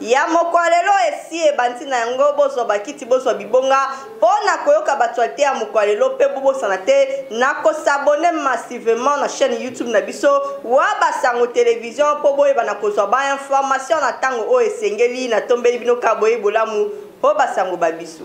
Ya mokolo lelo esi ebandi na yango bozwa bakiti bozwa bibonga po na koyoka bactualite ya mokolo lelo pe bobosana te na ko s'abonner massivement na chaine YouTube na biso Waba Sango Television po boyeba na kozwa ba information na tango oyo esengeli na tombeli bino ka boyeyi bolamu po ba sango ba biso.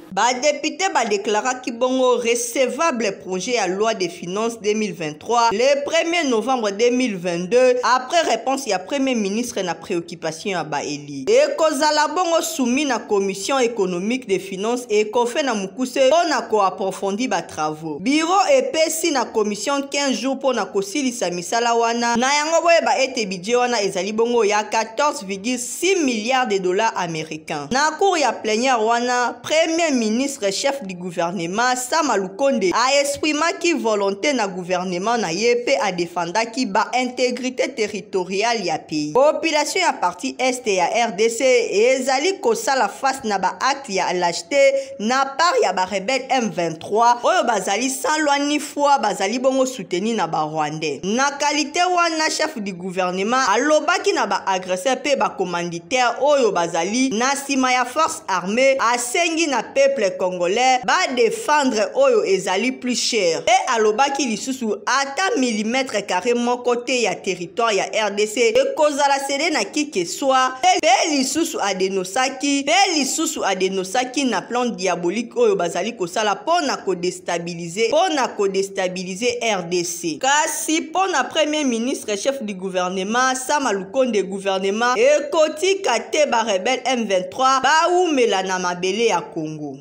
Ba deputes ba declaraki bongo recevable projet ya loi de finances 2023 le 1er novembre 2022 après réponse ya premier ministre na préoccupation ya ba eli. Ekozala bongo soumis na commission économique des finances ekofe na mukuse mpo na ko approfondi ba travaux. Bureau epesi na commission 15 jours mpo na kosilisa misala wana na yango boyeba ete budget wana ezali bongo ya 14, 6 milliards de dollars américains. Na cour ya plenière wana, premier ministre chef du gouvernement Sama Lukonde a exprimaki volonté na gouvernement na ye pe a defendaki ba intégrité territoriale ya pays. Population ya partie est ya RDC ezali kosala face na ba actes ya lâcheté na part ya ba rebelles M23 3 oyo bazali sans loi ni foi bazali bongo soutenu na barwandais na kalite wana chef du gouvernement alobaki na baagresseur mpe bacommanditaire oyo bazali na nsima ya force armée asengi na peuple congolais badefendre oyo ezali plus cher mpe alobaki lisusu ata milimetre carré moko te ya territoire ya rdc ekozala sede na kike swa mpe lisusu adenosaki mpe lisusu adenosaki na plan diabolique oyo bazali kosala mpo na kodestabilize mpo na kodestabilize rdc kasi mpo na premier ministre chef du gouvernement sama lukonde gouvernement ekotika te barebele m23 bawumela na mabele ya congo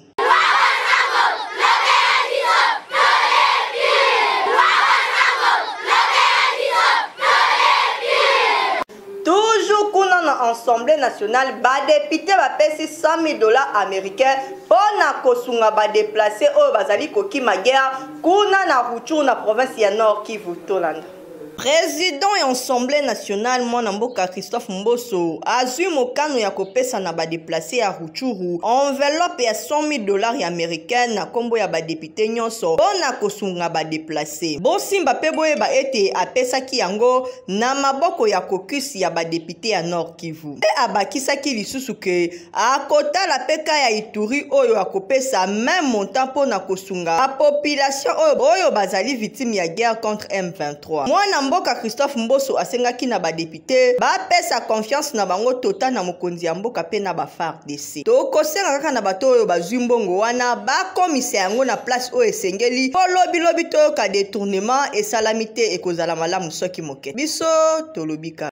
assemblée nationale badepute bapesi 100 000 dollars américain mpo na kosunga badeplace oyo bazali kokima guerre kuna na ruchur na province ya nord kivu tolanda President ya Assemblee nationale mwana mboka Christophe Mboso azwi mokano ya kopesa na badeplace ya Rutshuru enveloppe ya 100.000 dollars americaines na kombo ya badepute nyonso mpo na kosunga badeplace. Bosimba mpe boyeba ete apesaki yango na maboko ya caucus ya badepute ya Nord Kivu. Mpe abakisaki lisusu ke akotala mpe ka ya ituri oyo akopesa meme montant mpo na kosunga bapopulation oyo, oyo bazali victime ya guerre contre m23 mwana mboka christophe mboso asengaki na badepute bapesa confiance na bango tota na mokonzi ya mboka mpe na bafardc tokosenga kaka na bato oyo bazwi mbongo wana bakomisa yango na place oyo esengeli mpo lobilobi toyoka detournement esalami te ekozala malamu soki ke biso tolobi ka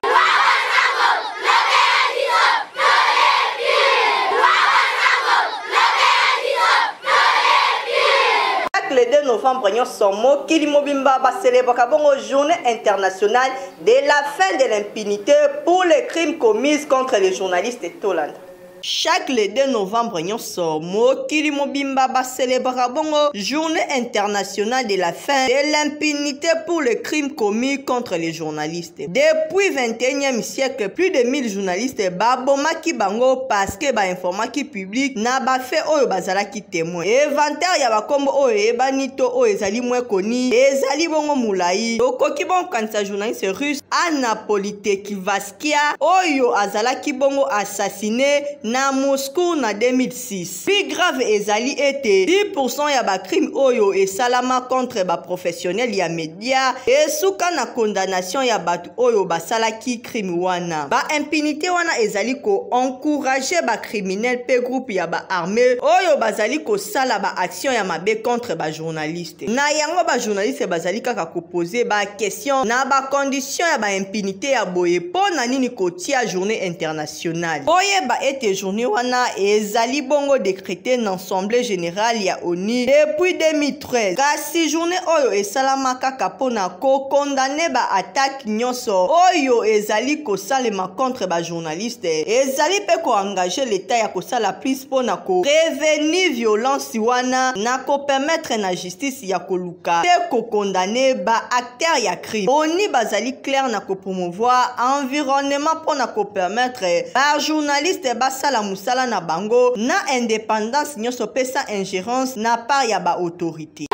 le 2 novembre nyonso mokili mobimba baselebraka bongo journée internationale de la fin de l'impunité pour les crimes commises contre les journalistes tolanda Chaque le 2 novembre nyonso mokili mobimba bacelebraka bongo journée internationale de la fin de l'impunité pour le crime commis contre les journalistes. Depuis 21e siècle, plus de 1000 journalistes babomaki bango parce que bainformaki public na bafait oyo bazalaki témoin. Inventaire ya bakombo oyo eyebani to oyo ezali mwe koni ezali bongo molai. Tokoki bongo kokanisa journaliste russe Anna Politekivaski Baskia oyo azalaki bongo assassine na Moscou na 2006. Plus grave ezali ete 10% ya ba crime oyo esalama contre ba professionnels ya media esuka na condamnation ya bato oyo basalaki crime wana. Ba impunité wana ezali ko encourager ba criminels pe groupe ya ba armes oyo bazali kosala ba actions ya mabe contre ba journalistes. te na yango bajournaliste bazali kaka kopose baquestion na bacondition ya baimpunité ya boye mpo na nini kotia journée internationale boyeba ete journée wana ezali bongo décrété na assemblée générale ya onu depuis 2013 kasi journée oyo esalama kaka mpo na kokondane baattaque acte nyonso oyo ezali kosalema contre bajournaliste ezali mpe koengage leta ya kosala plus mpo na koreveni violence wana na kopermetre na justice ya koluka mpe kokondane baacteur ya crime oni bazali claire na kopromouvoir environnement mpo na kopermetre bajournaliste basala mosala na bango na independance nyonso mpe sans ingérence na part ya baautorité te.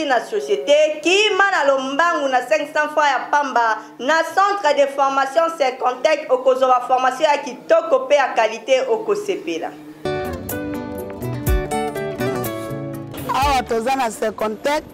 na société kima na lombangu na 500 francs ya pamba na centre de formation secontec okozwa formation ya kitoko mpe ya qualité okosepela awa toza na secontec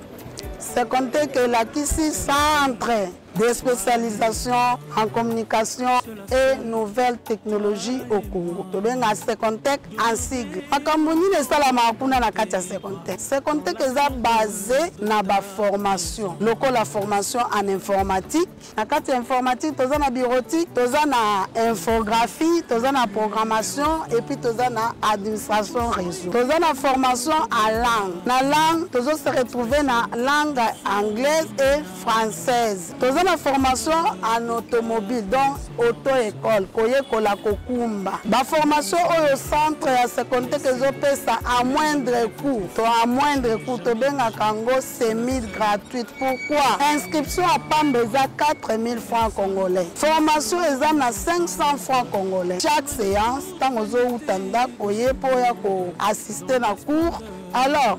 secontec elakisi centre des spécialisations en communication et nouvelles technologies au Congo. tobenga Secontech en sigle makambo nini esalamaka kuna na kati ya Secontech Secontech eza basé na baformation lokola formation en informatique na kati ya informatique toza na bureautique toza na infographie toza na programmation et puis toza na administration réseau toza na formation en langue na langue tozo se retrouver na langue anglaise et française toza na formation en automobile donc auto école koyekola kokumba baformation oyo centre ya secondaire ezopesa à moindre coût to à moindre coût tobengaka yango semi gratuite pourquoi inscription ya pamba eza 4000 francs congolais formation eza na 500 francs congolais chaque séance ntango ozowuta ndako oye mpo ya koassiste na cours alors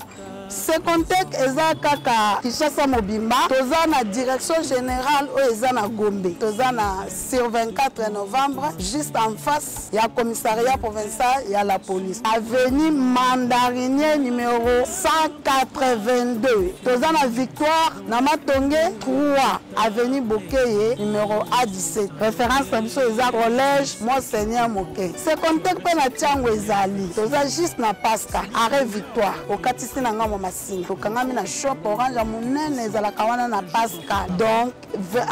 Secontec eza kaka Kinshasa mobimba. Toza na direction générale oyo eza na Gombe. Toza na sur 24 novembre juste en face ya commissariat provincial ya la police. Avenue Mandarinier numéro 182. Toza na victoire na matonge 3. Avenue Bokeye, numéro A17. Référence na biso eza collège Monseigneur Moke. Secondaire pe na Tiango ezali. Toza juste na Pasca, arrêt Victoire. Okatisi na ngambo masina. Tokangami na shop orange monene ezalaka wana na Pasca. Donc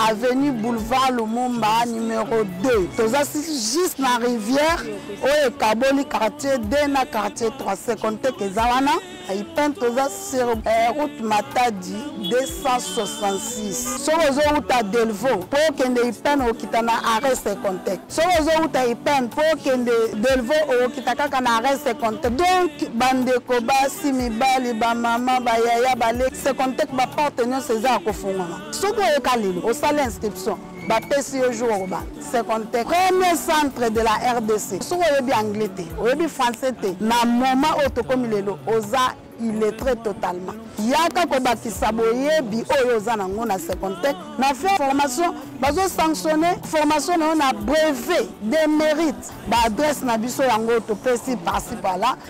avenue Boulevard Lumumba numéro 2. Toza juste na rivière oyo ekaboli quartier 2 na quartier 3. Secondaire eza wana. Ipen toza sero eh, route Matadi 266 soki ozowuta Delvaux mpo okende Ipen okita na arrêt Secontec soki ozowuta Ipen mpo okende Delvaux okita kaka na arrêt Secontec donc bandeko basi mibali bamama bayaya baleki Secontec baporte nyonso eza ya kofungwama soki oyoka lelo osala inscription bapesi yo jour okoba secondaire premier centre de la rdc soki oyebi anglais te oyebi français te na moment oyo tokomi lelo oza illettré totalement yaka kobakisa boyebi oyo oza nango na secondaire na fin formation bazosanctionne formation na yo na brevet de mérite baadresse na biso yango topesi parci pala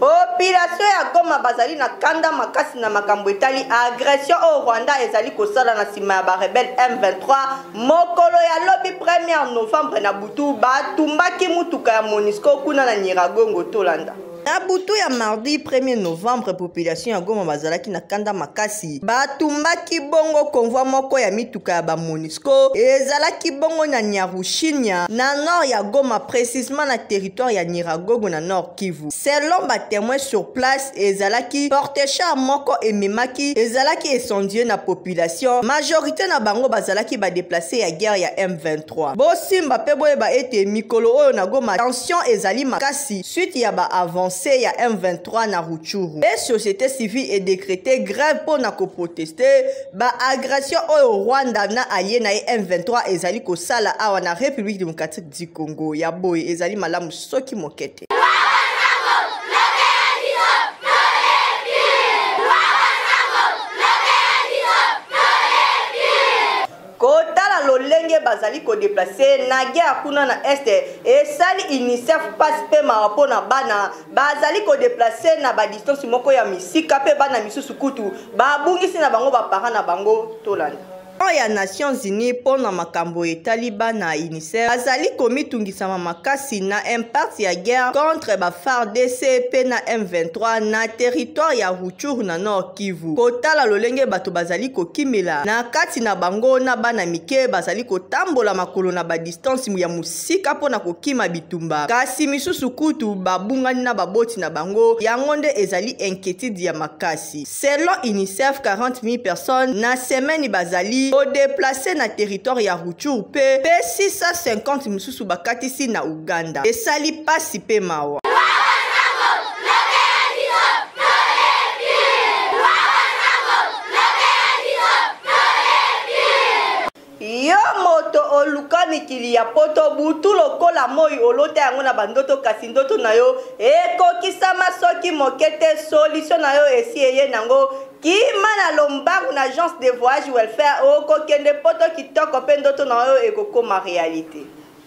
Population ya Goma bazali na kanda makasi na makambo etali agression oyo Rwanda ezali kosala na nsima ya barebele M23. Mokolo ya lobi 1er novembre na butu batumbaki motuka ya Monisco kuna na Nyiragongo. Tolanda. Na butu ya mardi 1er novembre, population ya Goma bazalaki na kanda makasi. Batumbaki bongo konvoi moko ya mituka ya bamonisco ezalaki bongo na Nyarushinya na nord ya Goma, precisement na territoire ya Nyiragogo na nord. Kivu. Selon ba témoins sur place, ezalaki porte-char moko ememaki, ezalaki incendie na population. Majorité na bango bazalaki ba déplacés ya guerre ya M23. Bosimba pe boyeba ete mikolo oyo na Goma tension ezali makasi suite ya ba avancées ya M23 na Rutshuru. Pe société civile e décréter grève po na ko protester ba agressions oyo Rwanda na allié na ye M23 ezali kosala awa na République démocratique du Congo. Ya boye ezali malamu soki moke te kotala lolenge bazali kodeplace na guerre kuna na este esali unicef mpasi mpe mawa mpo na bana bazali kodeplace na badistance moko ya misika mpe bana misusu kutu babungisi na bango baparent na bango tolanda Agent ya Nations Unies mpo na makambo etali bana UNICEF azali komitungisama makasi na impact ya guerre contre ba FARDC mpe na M23 na territoire ya Rutshuru na Nord Kivu. Kotala lolenge bato bazali kokimela na kati na bango na bana mike bazali kotambola makolo na ba distance ya mosika mpo na kokima bitumba, kasi misusu kutu babungani na baboti na bango, yango nde ezali inquiétude ya makasi. Selon UNICEF, 40.000 personnes na semaine bazali ko deplacer na territoire ya Rutshuru pe pe 650 misusu bakatisi na Ouganda. Esali pasi pe mawa. Yo moto oluka mikili ya poto butu lokola moyi olota yango na ba ndoto kasi ndoto na yo ekokisama soki moke te solution na yo esi eye nango kima na lombangu na agence de voyage welfare okokende poto kitoko pe ndoto na yo ekokoma realite.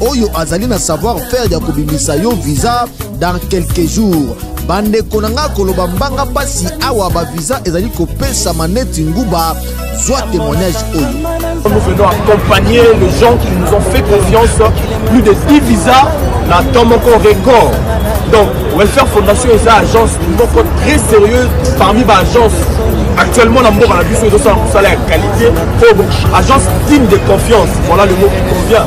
oyo azali na savoir faire ya kobimisa yo visa dans quelques jours bandeko na ngai koloba mbanga mpasi awa bavisa ezali kopesama neti nguba zwa témoignage oyo nous venons accompagner les gens qui nous ont fait confiance plus de 10 visas na temps moko record donc welfare fondation eza agence moko très sérieuse parmi baagence actuellement na mboka na biso ezosala mosala ya qualité po agence digne de confiance voilà le mot qui convient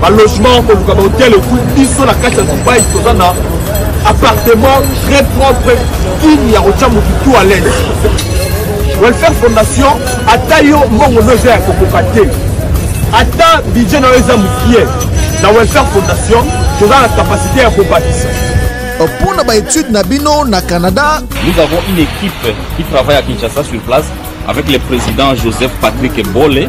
ba logement koluka ba hotel etu biso na kati ya dubai toza na appartement très propre digne ya kotya motu tout à l'aise welfare fondation ata yo mbongo no eza ya kokoka te ata budget na yo eza mokie na welfare fondation toza na kapasité ya kobakisa mpo na baetude na bino na canada nous avons une équipe qui travaille à kinshasa sur place avec le président joseph patrick bole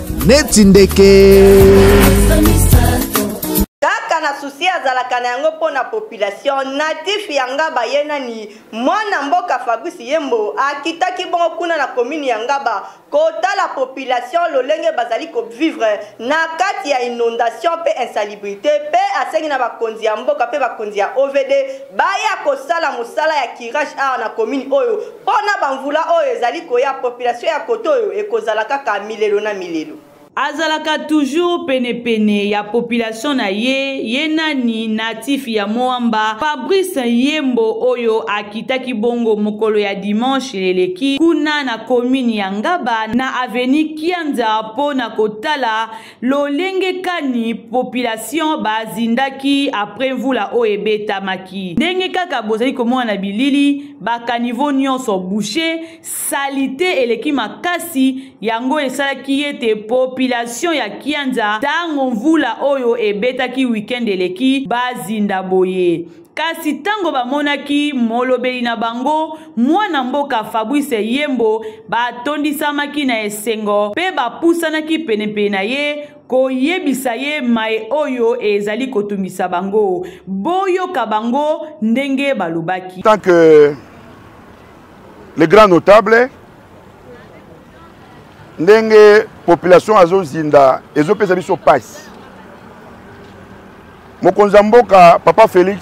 neti ndeke kaka na susi azalaka na yango mpo na population natif ya ngaba ye nani mwana mboka fabrice yembo akitaki bongo kuna na komini ya ngaba kotala population lolenge bazali kovivre na kati ya inondation mpe insalubrité mpe asengi na bakonzi ya mboka mpe bakonzi ya ovd baya kosala mosala ya curage awa na commune oyo mpo na bamvula oyo ezali koya population ya kote oyo ekozala kaka milelo na milelo azalaka toujours penepene ya population na ye ye nani natif ya moamba fabrice yembo oyo akitaki bongo mokolo ya dimanche eleki kuna na komini ya ngaba na aveni kianza mpo na kotala lolenge kani population bazindaki apres mvula oyo ebetamaki ndenge kaka bozali komona na bilili bakanivo nyonso bouche salite eleki makasi yango esalaki ete population ya kianza ntango mvula oyo ebetaki weekend eleki bazinda boye Kasi ntango bamonaki molobeli na bango, mwana mboka Fabrice Yembo, batondisamaki na esengo mpe bapusanaki penepene na ye koyebisa ye maye oyo ezali kotungisa bango. Boyoka bango ndenge balobaki. Tant que le grand notable ndenge population azozinda ezopesa biso pasi mokonzi ya mboka papa félix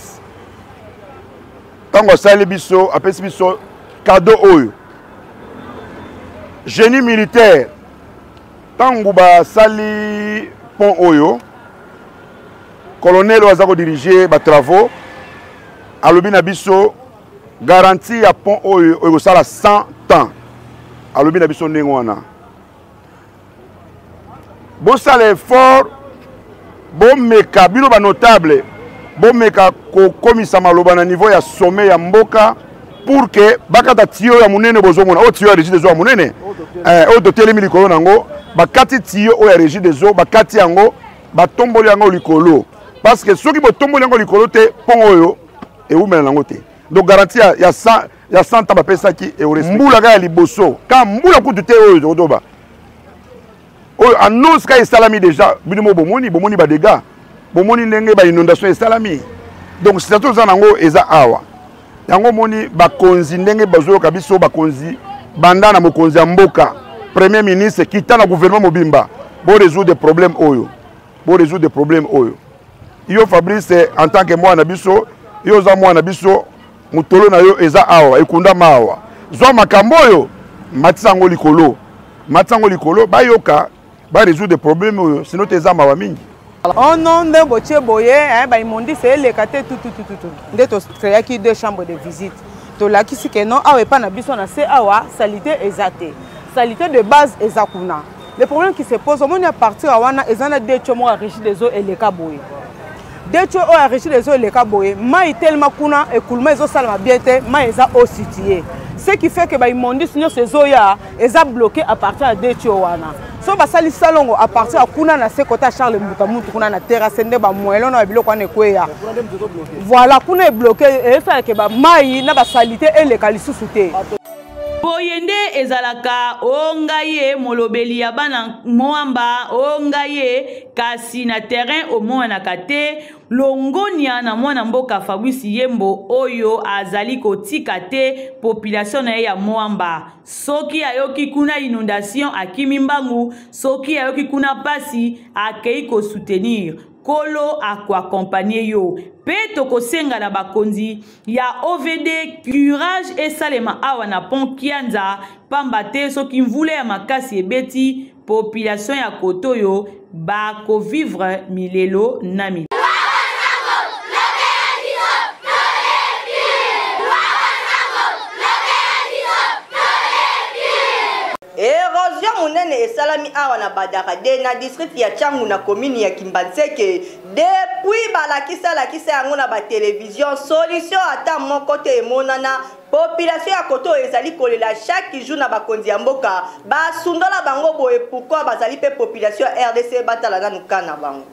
ntango asali biso apesi biso kado oyo génie militaire ntango basali pont oyo colonel oyo aza kodirige batravaux alobi na biso garantie ya pont oyo oyo ekosala 100 temps alobi na biso ndenge wana bosala effort bomeka bino banotable bomeka kokomisa maloba na niveau ya sommet ya mboka pour que bakata tiyo ya monene bozomona oyo oh, tiyo ya régie des eaux ya monene eh, oyo totelemi likolo na yango bakati tiyo oyo ya régie des eaux bakati yango batomboli yango likolo parce que soki botomboli yango likolo te mpongo oyo ewumela nango te donc garanti ya, ya, ya santa bapesaki mbula kaka ya liboso ka mbula kutu te oyo tokotoba oyo annonce ka esalami déjà bino mo bomoni bomoni badega bomoni ndenge bainondation esalami donc sitati oza nango eza awa yango omoni bakonzi ndenge bazoyoka biso bakonzi banda na mokonzi ya mboka premier ministre kita na gouvernement mobimba bo résoudre problème oyo bo résoudre problème oyo yo fabrice en tant que mwana biso yo oza mwana biso motolo na yo eza awa ekundama awa zwa makambo oyo matisa yango likolo matisa yango likolo bayoka ba résoudre problème oyo sino te eza mawa mingi oh non nde botie boye eh, baimondise eleka te tututututu nde tocreaki deux chambres de visite tolakisi ke non awa epai na biso na se awa salite eza te salite de base eza kuna le problème qui se pose omoni ya partir ya wana eza na decho moko ya régie des eaux eleka boye decho oyo ya régie des eaux eleka boye mai telema kuna ekuluma ezosalama bien te mai eza eau situe ce qui fait que baimmondice nyonso ezoya eza bloqué à partir ya decho wana so basali salongo à partir ya kuna na se kota charles mbuta mutu kuna na terrasse nde bamoyelo na ya biloko wana ekweya voilà kuna ebloke esalake bamai na basalite eleka lisusu te Boye nde ezalaka, o ngai ye molobeli ya bana mwamba, o ngai ye, kasi na terrain omonanaka te, longonia na mwana mboka Fabrice Yembo oyo azali kotika te population na ye ya mwamba. Soki ayoki kuna inondation akimi mbangu, soki ayoki kuna pasi akei ko soutenir. Nkolo akoakompanye yo mpe tokosenga na bakonzi ya ovd curage esalema awa na pont kianza pamba te soki mvula ya makasi ebeti population ya kote oyo bakovivre milelo na milelo erosion monene esalami awa na badaka de na district ya changu na komini ya kimbanseke Depuis balakisa lakisa yango na ba television, solution ata moko te emonana population ya koto ezali kolela chaque jour na bakonzi ya mboka basundola bango boye pourquoi bazali mpe population ya rdc batala nanu ka na bango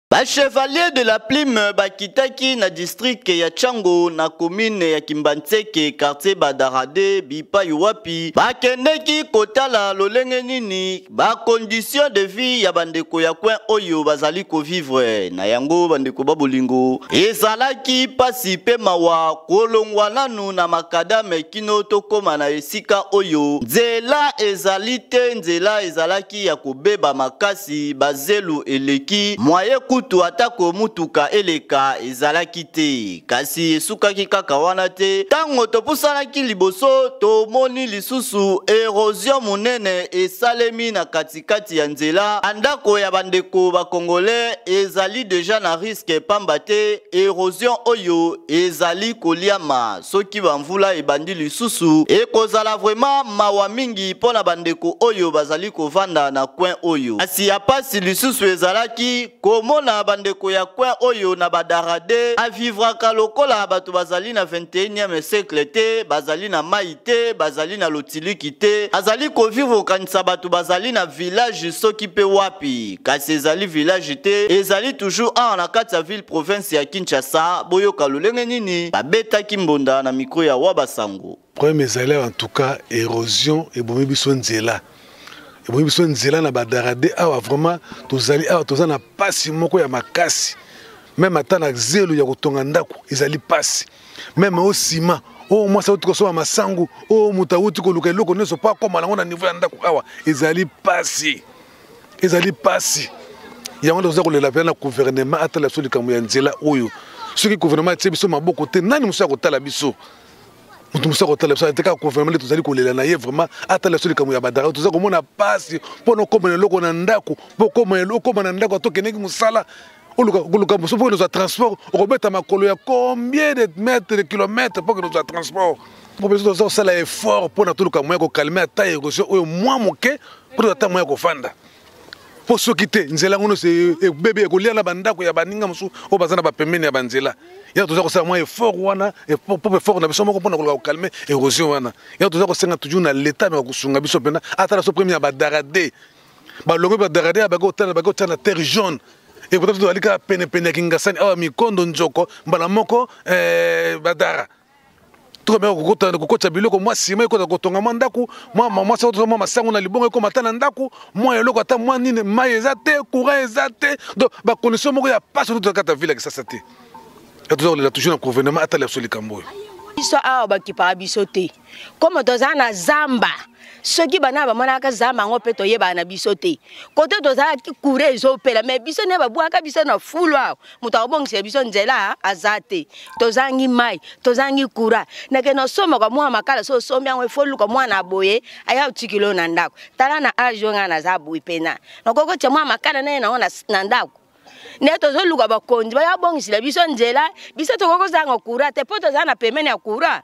Ba chevaliers de la plume bakitaki na district ya Chango na commune ya Kimbanseke quartier Badarade bipai wapi bakendeki kotala lolenge nini Ba conditions de vie ya bandeko ya coin oyo bazali ko vivre na yango bandeko ba bolingo ezalaki pasi pe mawa kolongwa nanu na makadame kino tokoma na esika oyo nzela ezali te nzela ezalaki ya kobeba makasi bazelu eleki mwaye kutu atako motuka eleka ezalaki te Kasi esukaki kaka wana te. Ntango topusanaki liboso, tomoni lisusu erozio monene esalemi na katikati ya nzela. Bandako ya bandeko bakongole ezali deja na riske pamba te erozio oyo ezali koliama. Soki bamvula ebandi lisusu, ekozala vrema mawa mingi mpo na bandeko oyo bazali kovanda na kwen oyo. Kasi ya pasi lisusu ezalaki komona bandeko ya coin oyo na badarade avivraka lokola bato bazali na 21e siècle te bazali na mai te bazali na lotiliki te azali kovivre okanisa bato bazali na village soki mpe wapi kasi ezali village te ezali toujours awa na kati ya ville province ya kinshasa boyoka lolenge nini babetaki mbonda na mikro ya wa basango Problème ezali en tout cas érosion ebomi biso nzela ebomi biso nzela na badarade awa vraiment tozali awa toza na mpasi moko ya makasi meme ata na zelo ya kotonga ndako ezali mpasi meme o nsima oyo oh, mwasi auti kosomba masangu oyo oh, moto auti koluka eloko nyonso mpo akoma nango na niveau ya ndako awa ezali mpasi ezali mpasi yango nde toza kolela mpenza na gouvernement atala biso likambo ya nzela oyo soki gouvernement atie biso maboko te nani mosusu akotala biso moto mosusu akotala biso te kaka gouvernement nde tozali kolela na ye vraiment atala biso likambo ya badara toza komona mpasi mpo na okoma na eloko na ndako mpo okoma na ndako ata okendeki mosala oluka mosusu mpo ozwa transport okobeta makolo ya combien de mètre de kilomètre mpo kende ozwa transport mpo biso toza kosala effort mpo na toluka moya kokalme ata erosion oyo mwa moke mpo tozata moya kofanda mpo soki te nzela yango nyonso ebebe ekolia na bandako ya baninga mosusu oyo baza na bapembeni ya banzela yango toza kosala mwa effort wana propre effort na biso moko mpona koluka kokalme érosion wana yango toza kosenga toujours na leta meka kosunga biso mpena ata na so premier ya badarade balongo badarade ya baki otala baki otya na terre jaune ekota tozali kaka penepene ya kingasani awa mikondo nzoko mbala moko eh, badara tokomeka kokotana kokotisa biloko mwa nsima ekota kotonga mwa ndako mwa mwa soko mwa masango na libongo ekoma ata na ndako mwa eloko ata mwa nini mai eza te courant eza te donc bacondition moko ya mpasi oto tokata ville ya kisasa te ya toza kolela toujours na gouvernement atala biso likambo oyo biso awa bakipaka biso te komo toza na zamba soki bana bamonaka zamba yango mpe toyebaka na biso te kote tozalaki kure ezopela me biso nde babwaka biso na fulu awa moto akobongisela biso nzela aza te tozangi mai tozangi kura nake nasombaka mwana makala so osombi yango efo luka mwana boye aya otikilo na ndako tala na age oyo ngai naza boye mpena nakoki kotya mwana makala naye nango na ndako nde tozoluka bakonzi baya bongisela biso nzela biso tokoki kozanga kura te mpo tozala na pemene ya kura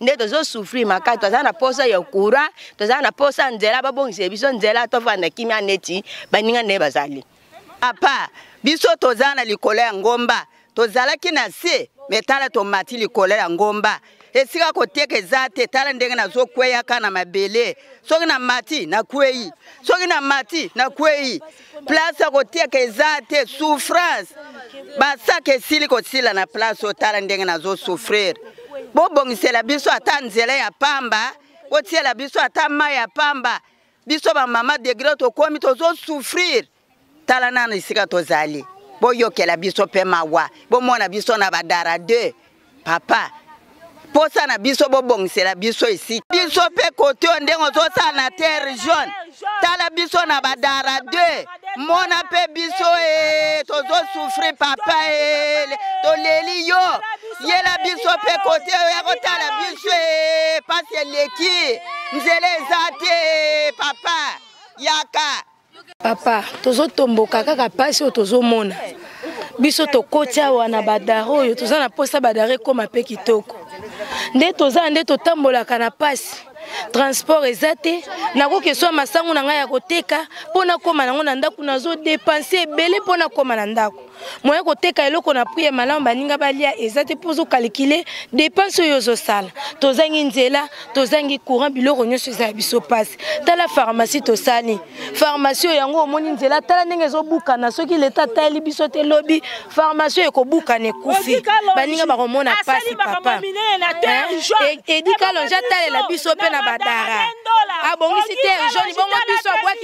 nde tozo souffrir makasi toza na posa ya courant toza na posa nzela babongisa biso nzela tofanda kimia neti baninga nde bazali apa biso toza na likolo ya ngomba tozalaki na se me tala tomati likolo ya ngomba esika koteka eza te tala ndenge nazokweyaka na mabele soki na mati nakwei soki na mati nakwei place ya kotiaka eza te souffrance basaka esili kosila na place otala ndenge nazosouffrir bobongisela biso ata nzela ya pamba botiela biso ata mai ya pamba biso bamama degre tokomi tozosouffrir tala nano esika tozali boyokela biso mpe mawa bomona biso na badara 2 papa posa na biso bobongisela biso esika biso mpe kote oyo ndenge ozosala na terre jaune tala biso na badara 2 mona mpe biso e eh, tozosufri papa e eh, toleli yo yela biso mpe kote oyo ya kotala biso e eh, pasi eleki nzela eza te papa yaka papa tozotomboka kaka mpasi oyo tozomona biso tokoti awa na badare oyo toza na mposa badare ekóma mpe kitoko nde toza nde totambolaka na mpasi transport eza te nakoki eswa masango na ngai ya koteka mpo nakóma nango na ndako nazodepanse ebele mpo nakóma na ndako moye koteka eloko na prix ya malamu baninga balia eza te mpo ozokalikile dépense oyo ozosala tozangi nzela tozangi courant biloko nyonso eza ya biso mpasi tala pharmacie tosali pharmacie oyo yango omoni nzela tala ndenge ezobukana soki leta atali biso te lobi pharmacie oyo ekobukana ekufi baninga bakomona mpasi papa edika longe atalela biso mpe na badara abongisi te joni bongo biso abwaki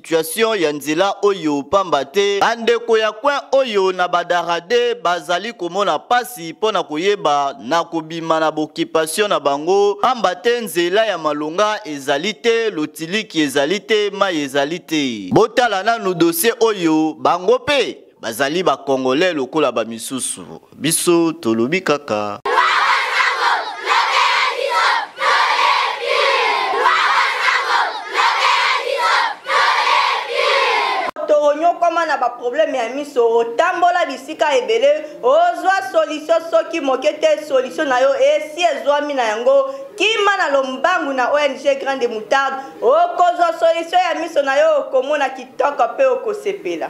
situation ya nzela oyo pamba te bandeko ya coin oyo na badarade bazali komona pasi mpo na koyeba na kobima na bokipation na bango pamba te nzela ya malonga ezali te lotiliki ezali te mai ezali te botala nanu dossier oyo bango mpe Bazali ba congolais lokola ba misusu. Biso tolobi kaka. okoma na baproblème ya miso otambola bisika ebele ozwa solution soki moke te solution na yo esi ezwami na yango kima na lombangu na ong grande moutarde okozwa solution ya miso na yo okomona kitoko mpe okosepela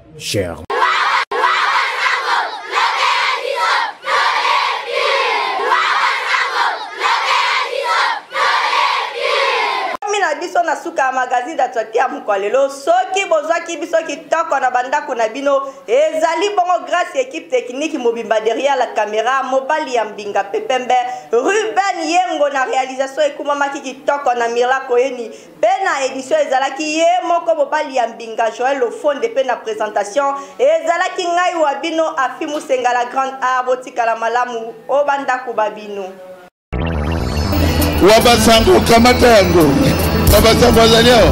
cher. biso na suka ya magazine d'actualité ya mokwa lelo soki bozwaki biso kitoko na bandako na bino ezali bongo grâce ya équipe technique mobimba derrière la caméra mobali ya mbinga pepembe ruben yengo na réalisation ekumamaki kitoko na mirakoyeni mpe na edition ezalaki ye moko mobali ya mbinga joel lofonde mpe na presentation ezalaki ngai wa bino afi musenga la grande art botikala malamu o bandako ba bino wa basango kamata yango wa basango azali awa